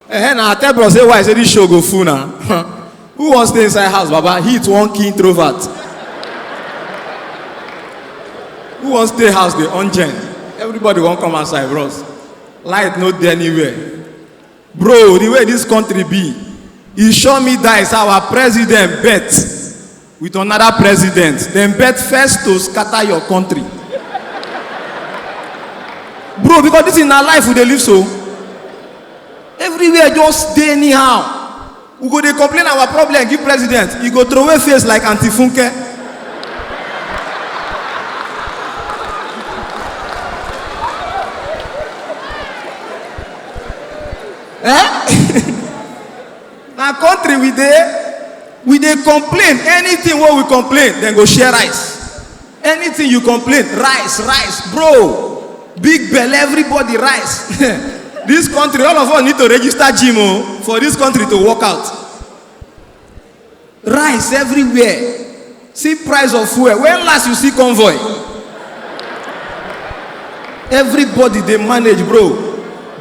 Eh, na tell bros say why say this show go full na. Who wan stay inside house, Baba? Heat one key introvert. Who wan stay house dey on gen? Everybody wan come outside, bros. Light no dey anywhere. Bro, the way this country be, e sure me die say our president bet with another president dem bet first to scatter your country bro because this is na life we dey live so everywhere just dey anyhow we go dey complain our problem give president e go throway face like aunty funke eh na country we dey we dey complain anything wey we complain dem go share rice anything you complain rice rice bro big belle everybody rice this country all of us need to register gym o for this country to work out rice everywhere see price of fuel when last you see convoy everybody dey manage bro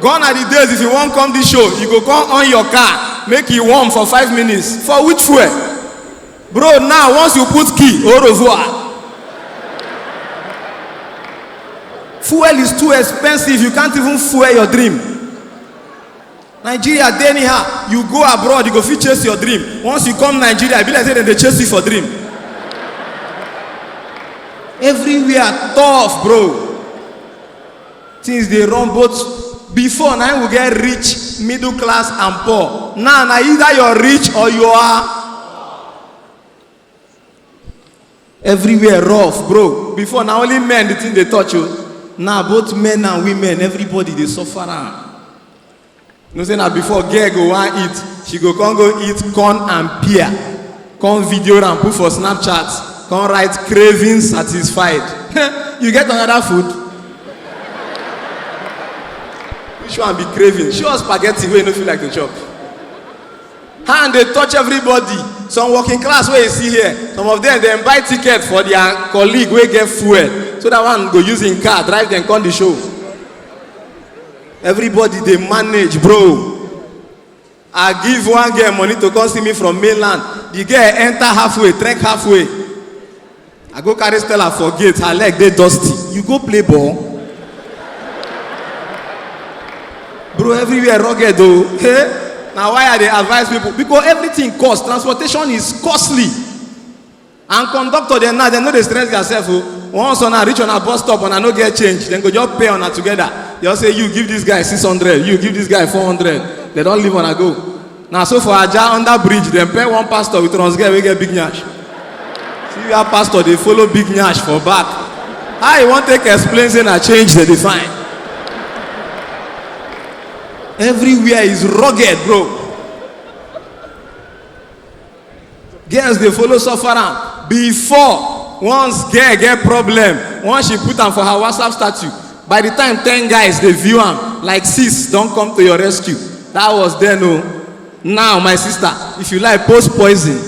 gone are the days if you wan come this show you go come on your car make e warm for five minutes for which fuel bro now once you put key au revoir fuel is too expensive you can't even fuel your dream nigeria dey anyhow you go abroad you go fit chase your dream once you come nigeria e be like say dem dey chase you for dream everywhere tough bro things dey run both before na we get rich middle class and poor now na either you're rich or you are everywhere rough bro before na only men the thing dey touch o now both men and women everybody dey suffer am you know say na before girl go wan eat she go come go eat corn and pear come video am put for snapchat come write craving satisfied you get another food which one be craving show us spaghetti wey you no feel like to chop hand dey touch everybody some working class wey you see here some of them dem buy ticket for their colleague wey get fuel so that one go use him car drive dem come the show everybody dey manage bro i give one girl money to come see me from mainland the girl enter halfway trek halfway I go carry Stella for gate, her leg dey dusty. You go play ball? Bro, everywhere rugged though. Hey, now why I dey advise people? Because everything cost. Transportation is costly. And conductor dem now, dem no dey stress theirself o. Once una reach una bus stop, una no get change, dem go just pay una together. Just say you give this guy six hundred, you give this guy four hundred. Dem don leave una go. na so for aja under bridge dem pair one pastor with runs girl wey get big nyash see where pastor dey follow big nyash for back how you wan take explain say na change dey define everywhere is rugged bro girls dey follow suffer am before once girl get problem once she put am for her whatsapp statue by the time ten guys dey view am like sis don come to your rescue that was then o now my sister if you like post poison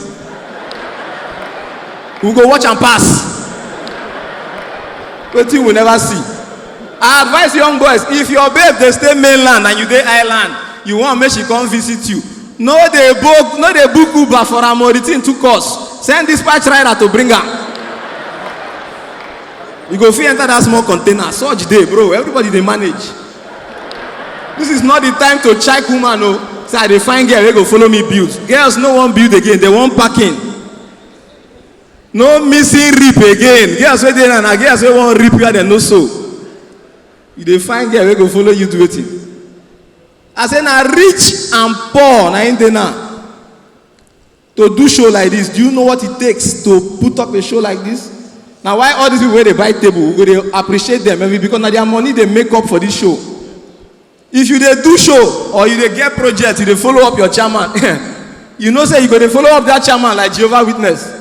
we go watch am pass wetin we never see i advise young boys if your babe dey stay mainland and you dey island you wan make she come visit you No dey book no dey book Uber for am o, the thing too cost. Send dispatch rider to bring am. You go fit enter that small container, surge dey bro, everybody dey manage. This is not the time to check woman o. Say I dey find girl wey go follow me build. Girls no wan build again, they wan parking. No missing rip again. Girls wey dey now na girls wey wan rip where dem no sew. You dey find girl wey go follow you do wetin? I say na rich and poor na im dey now. To do show like this, do you know what it takes to put up a show like this? Na why all these people wey dey buy table, we go dey appreciate them every because na their money dey make up for this show. If you dey do show or you dey get project, you dey follow up your chairman, you know say you go dey follow up that chairman like Jehovah Witness.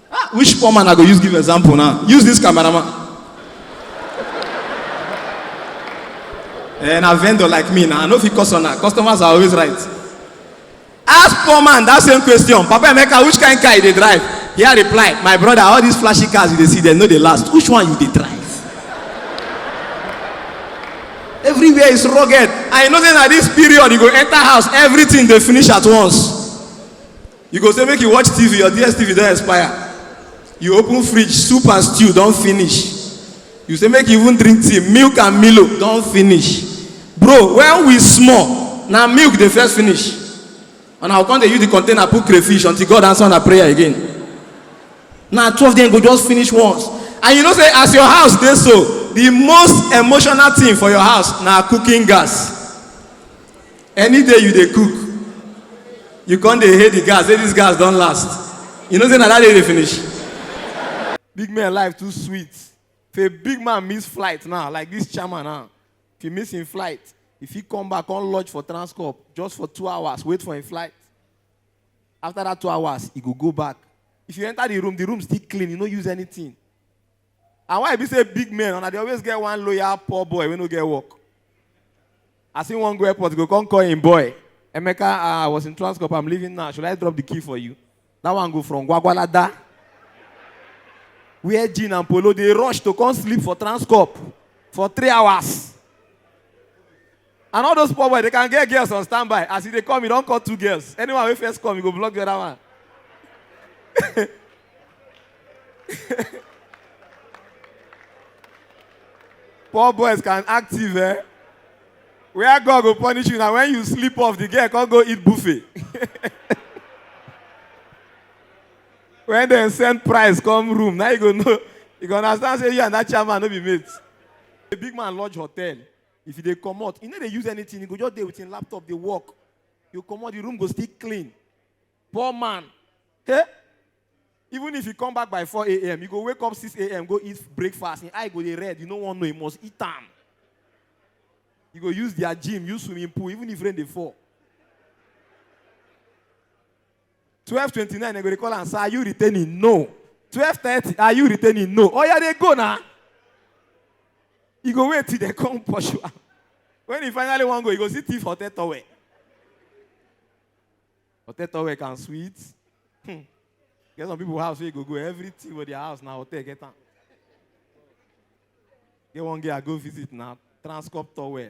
Ah, which poor man I go use give example now? Use this cameraman. and a vendor like me now, I know if you customer, customers are always right. Ask poor man that same question. Papa Emeka, which kind car you dey drive? He had replied, my brother, all these flashy cars you dey see, they know they last. Which one you dey drive? Everywhere is rugged. I know say na this period you go enter house, everything dey finish at once. you go say make you watch tv your dstv don expire you open fridge soup and stew don finish you say make you even drink tea milk and milo don finish bro when we small na milk dey first finish and i go come dey use the container put crayfish until god answer una prayer again na twelve dem go just finish once and you know say as your house dey so the most emotional thing for your house na cooking gas Any day you dey cook, you come dey hail the gas say this gas don last, you know say na that day dey finish. Big men life too sweet, if a big man miss flight now like this chairman now, if he miss him flight, he fit come back come lodge for transcorp just for two hours wait for him flight, after that two hours he go go back, if you enter the room, the room still clean, he no use anything. And why e be say big men una dey always get one loyal poor boy wey no get work? As he wan go airport, he go come call him boy. Emeka, ah, I was in Transcorp, I'm leaving now. Should I drop the key for you? That one go from Gwagwalada, wear jean and polo, dey rush to come sleep for Transcorp for three hours. And all those poor boys, they can get girls on standby. As e dey come, e don call two girls. Anyone wey first come, e go block the other one. poor boys can active, eh? Where God go punish you na when you sleep off, the girl come go eat buffet. when dem send price come room, na you go know. You go understand say you and that chairman no be mates. A big man lodge hotel. If e dey comot, e no dey use anything, e go just dey with im laptop dey work. You comot, the room go still clean. Poor man. Hey! Even if you come back by 4 a.m., you go wake up 6 a.m., go eat breakfast, im eye go dey red, you no wan know, you must eat am. You go use their gym, use swimming pool, even if rain dey fall. twelve twenty nine dem go dey call am sir are you returning no twelve thirty are you returning no oya dey go na e go wait till dem come pursue am when e finally wan go e go see thief hotel towel hotel towel can sweet hmm. get some people house wey go go everything for their house na hotel get am get one girl i go visit na transcorp towel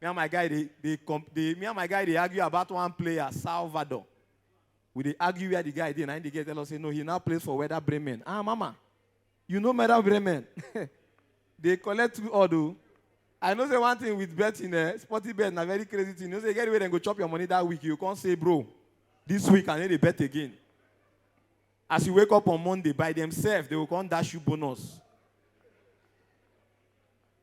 Me and my guy dey dey comp dey me and my guy dey argue about one player, Salvador. We dey argue where the guy dey, na him the girl tell us say no, he now plays for Werder Bremen. Ah, mama, you know Werder Bremen? dey collect two odd o. I know say one thing with betting, eh, sporty bet na very crazy thing. You know say e get the way dem go chop your money that week, you go come say, bro, this week I no dey bet again. As you wake up on Monday, by themselves, they go come dash you bonus.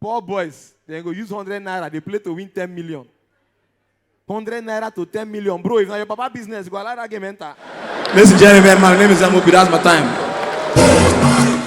Poor boys, dem go use hundred naira dey play to win ten million. Hundred naira to ten million, bro. If na your papa business, you go allow that game enter. Ladies and gentlemen, my name is Amobi. That's my time.